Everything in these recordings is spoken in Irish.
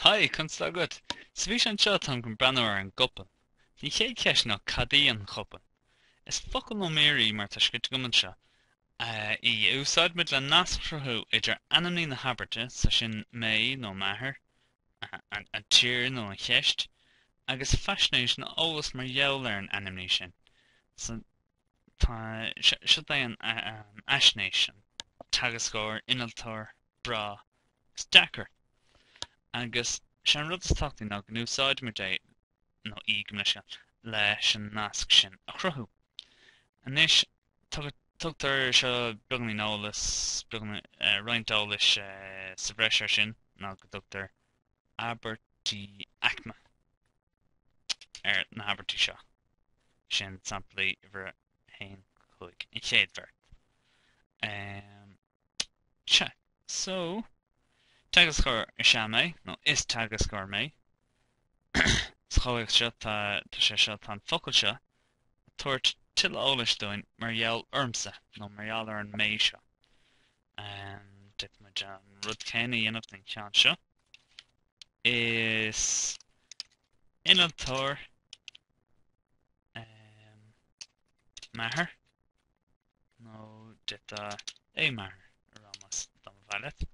Hi, conas tá agat? Sa bhfíseán seo táim chun breathnú ar an gcopail. Is í an chéad cheist ná cad í an chopail? Is focal nó mír í mar atá scríte agam anseo í a úsáidimid le nasc a chruthú idir ainmní na habairte, is é sin mé, m'athair, an tír nó an cheist, agus faisnéis nó eolas mar gheall ar an ainmní sin. So tá sé seo leis an bhfaisnéis, an teagascóir, innealtóir, breá agus deacair. Agus is é an rud is tábhachtaí ná go n-úsáidimid é nó í go mb'fhéidir leis an nasc sin a chruthú. Anois, tugtar seo beagáinín eolas, beagáinín, roinnt eolais sa bhreis ar sin ná go dtugtar abairtí aicme. ar na habairtí seo. Sin samplaí uimhir 1 go 5, an chéad bheirt. Um, cha, so, teagascóir is ea mé, nó is teagascóir mé. Sa chomhthéacs seo, tá, tá sé seo, tá an focal seo ag tabhairt tuilleadh eolais dúinn mar gheall ormsa, nó mar gheall ar an mé seo. D'fhéadfadh muid an rud céanna a dhéanamh don cheann seo. Is innealtóir m'athair, nó d'fhéadfá é m'athair a rá dá mba mhaith leat.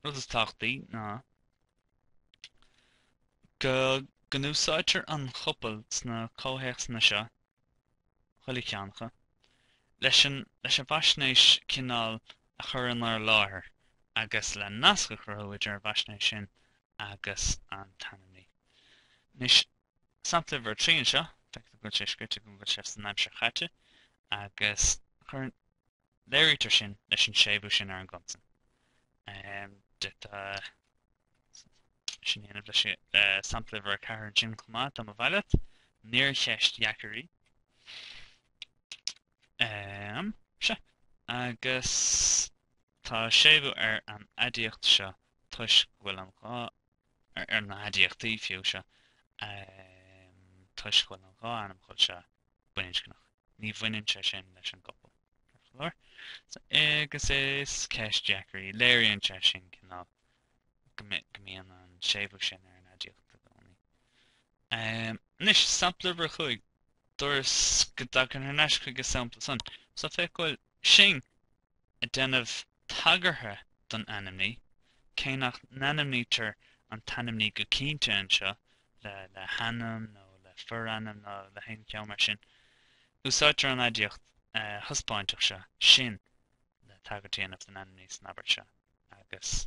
Rud is tábhachtaí ná go n-úsáidtear an chopail sna comhthéacsanna seo Chuile cheann acu. Leis an bhfaisnéis cineáil a chur in ár láthair agus le nasc a chruthú idir an bhfaisnéis sin agus an t-ainmní. Anois, sampla uimhir a trí anseo, feictear go bhfuil sé scríte go bhfuil sé san aimsir chaite agus cuireann. Léirítear sin leis an séimhiú sin ar an gconsan. D'fhéadfá sin a dhéanamh leis eh, sampla uimhir a ceathair ansin chomh maith, dá mba mhaith leat. Níor cheist dheacair í. Em, Se. Agus tá séimhiú ar an aidiacht seo toisc go bhfuil an dhá ar ar na haidiachtaí fiú, seo toisc go bhfuil an dhá ainmfhocal seo baininscneach. Ní bhaineann sé sin leis an gcopail, ar chor ar bith. Agus is ceist dheacair í. Léiríonn sé sin cineál go go mbíonn an séimhiú sin ar an aidiacht i gcónaí. Anois, sampla uimhir a cúig, dúras go dtagainn thar n-ais chuig an sampla san. So féach go bhfuil sin Ag déanamh tagartha don ainmní, cé nach n-ainmnítear an t-ainmní go cinnte anseo le le hainm nó le forainm nó le haon cheo mar sin, úsáidtear an aidiacht thaispeáinteach seo, sin, le tagairt a dhéanamh don ainmní san abairt seo, agus.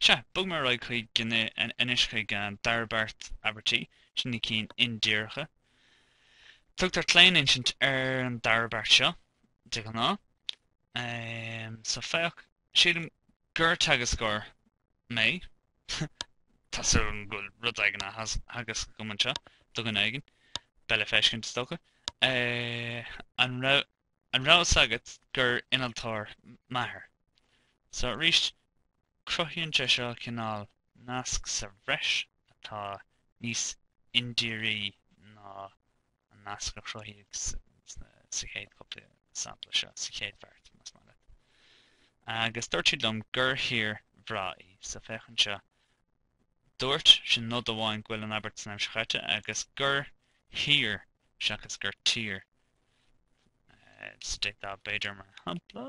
Sea, bogfaidh mé ar aghaidh chuig anois chuig an dara beart abairtí, sin na cinn indíreacha. Tugtar claoninsint ar an dara beart seo de ghnáth. So, féach, Sílim gur teagascóir mé. Tá súil agam go bhfuil rud éigin á theagasc agam anseo do dhuine éigin. Beidh le feiscint, is dócha. An raibh. An raibh 'fhios agat gur innealtóir m'athair? So arís cruthaíonn sé seo cineál nasc sa bhreis atá níos indírí ná an nasc a chruthaíodh sa chéad chúpla sampla seo, sa chéad bheart, más maith leat. Agus dúirt siad liom gur thír bhreá í, so féach anseo, Dúirt, sin nod amháin go bhfuil an abairt san aimsir chaite agus gur thír seachas gur tír state b'fhéidir mar shampla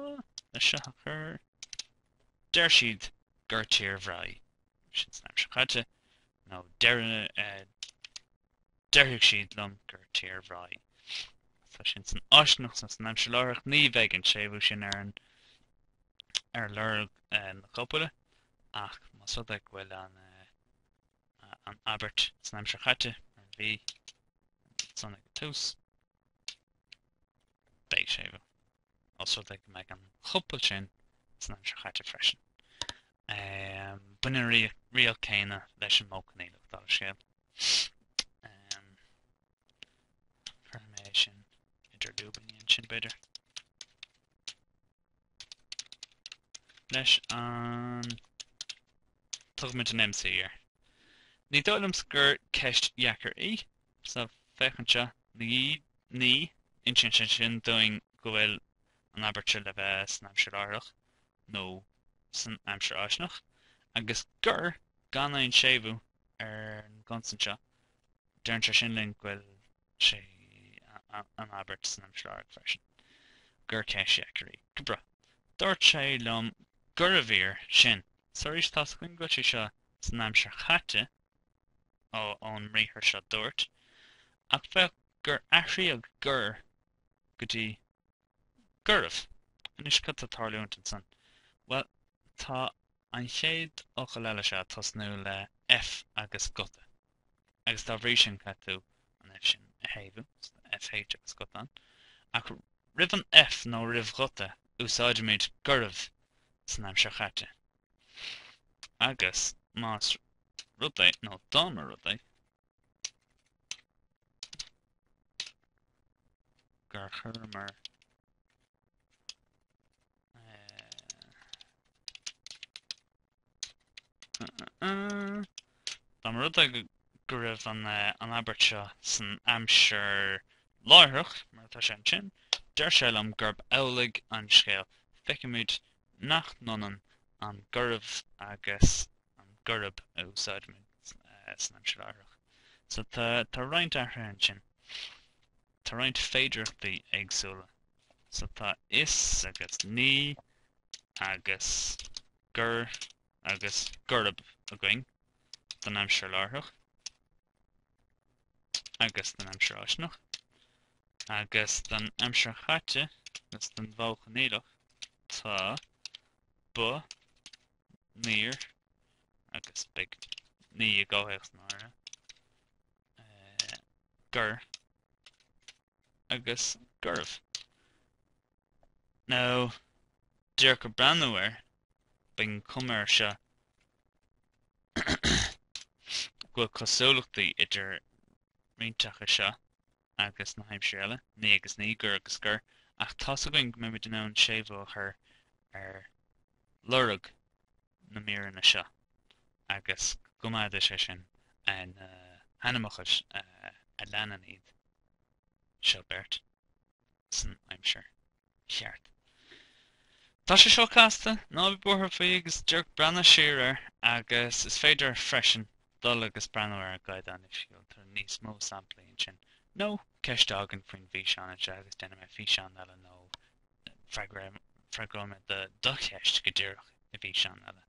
leis seo a chur. Deir siad gur tír bhreá í, sin san aimsir chaite, nó déarfaidh siad liom gur tír bhreá í. So sin san fháistineach so san aimsir láithreach ní bheidh an séimhiú sin ar an ar lorg na copaile ach más rud é go bhfuil an abairt san aimsir chaite mar a bhí san ag an tús, beidh séimhiú, ós rud é go mbeidh an chopail sin san aimsir chaite freisin. Baineann an riail céanna leis an modh coinníollach, dála an scéil. Cuirfidh mé é sin idir lúibíní ansin, b'fhéidir. leis an. Tugaimid an MC air. Ní dóigh liomsa gur ceist dheacair í. So féach anseo, ní insíonn sé sin dúinn go bhfuil an abairt seo le bheith san aimsir láithreach nó san aimsir fháistineach, agus gur gan aon séimhiú ar an gconsan seo, deireann sé sin linn go bhfuil sé an abairt san aimsir láithreach freisin gur ceist dheacair í. Go breá. Dúirt sé liom gurbh fhíor sin. So arís tá 'fhios againn go bhfuil sé seo san aimsir chaite, ó, ón mbriathar seo dúirt, ach féach gur athraíodh gur go dtí Gurbh, Anois cad tá tarlúint ansan? Bhuel, tá an chéad fhocal eile seo ag tosnú le F agus guta, agus dá bhrí sin caithfidh tú an F sin a shéimhiú, so FH agus guta ann. Ach roimh an F nó roimh ghuta úsáidimid gurbh san aimsir chaite. Agus más rud é, nó dá mba rud é, gur chuireamar Dá mba rud é go raibh an abairt seo san aimsir láithreach, mar atá sé ansin, deir sé liom gurb amhlaidh an scéal. Feicimid nach ionann an gurbh agus an gurb a úsáidimid san aimsir láithreach. So tá roinnt athruithe ansin. Tá roinnt féidireachtaí éagsúla. So tá is agus ní agus gur agus gurb againn don aimsir láithreach agus don aimsir fháistineach agus don aimsir chaite agus don mhodh coinníollach tá, ba, Níor, agus beidh, ní i gcomhthéacs náire. gur, agus gurbh. Now d'fhéadfá breathnú air, beidh an chuma air seo go bhfuil cosúlachtaí idir roinnt acu seo agus na haimsirí eile, ní agus ní, gur agus gur, ach tá's againn go mbeimid in ann séimhiú a chur ar lorg na míreanna seo agus go gcoimeádfaidh sé sin na hainmfhocail a leanann iad seo beirt san aimsir cheart. Tá sé seo casta, ná bí buartha faoi agus d'fhéadfá breathnú siar air agus is féidir freisin dul agus breathnú ar an gcaighdeán oifigiúil, tá níos mó samplaí ansin. Nó ceist agat faoin bhfíseán anseo agus déanfaidh mé físeán eile nó freagróidh mé do cheist go díreach i bhfíseán eile.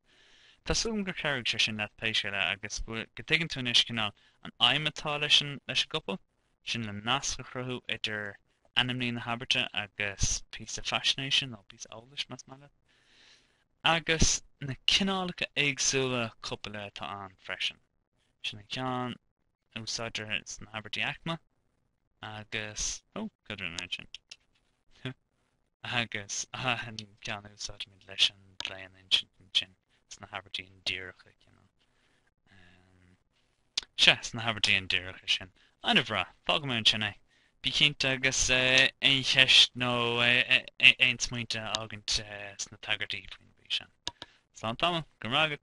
Tá súil agam gur chabhraigh sé sin leat pé scéal é agus go dtuigeann tú anois cineál an aidhm atá leis an gcopail. sin le nasc a chruthú idir ainmní na habairte agus píosa faisnéise, nó píosa eolais más maith leat, agus na cineálacha éagsúla copaile atá ann freisin, sin an ceann a úsáidtear sna habairtí aicme agus, ó, cad rinne mé ansin? Agus an ceann a úsáidimid leis an gclaoninsint sna habairtí indíreacha. Sea, sna habairtí indíreacha sin. An-bhreá. Fágfaimid ansin é. Bí cinnte agus aon cheist nó aon smaointe a fhágaint sna tagairtí faoin bhfís sin. Slán tamall. Go raibh maith agat.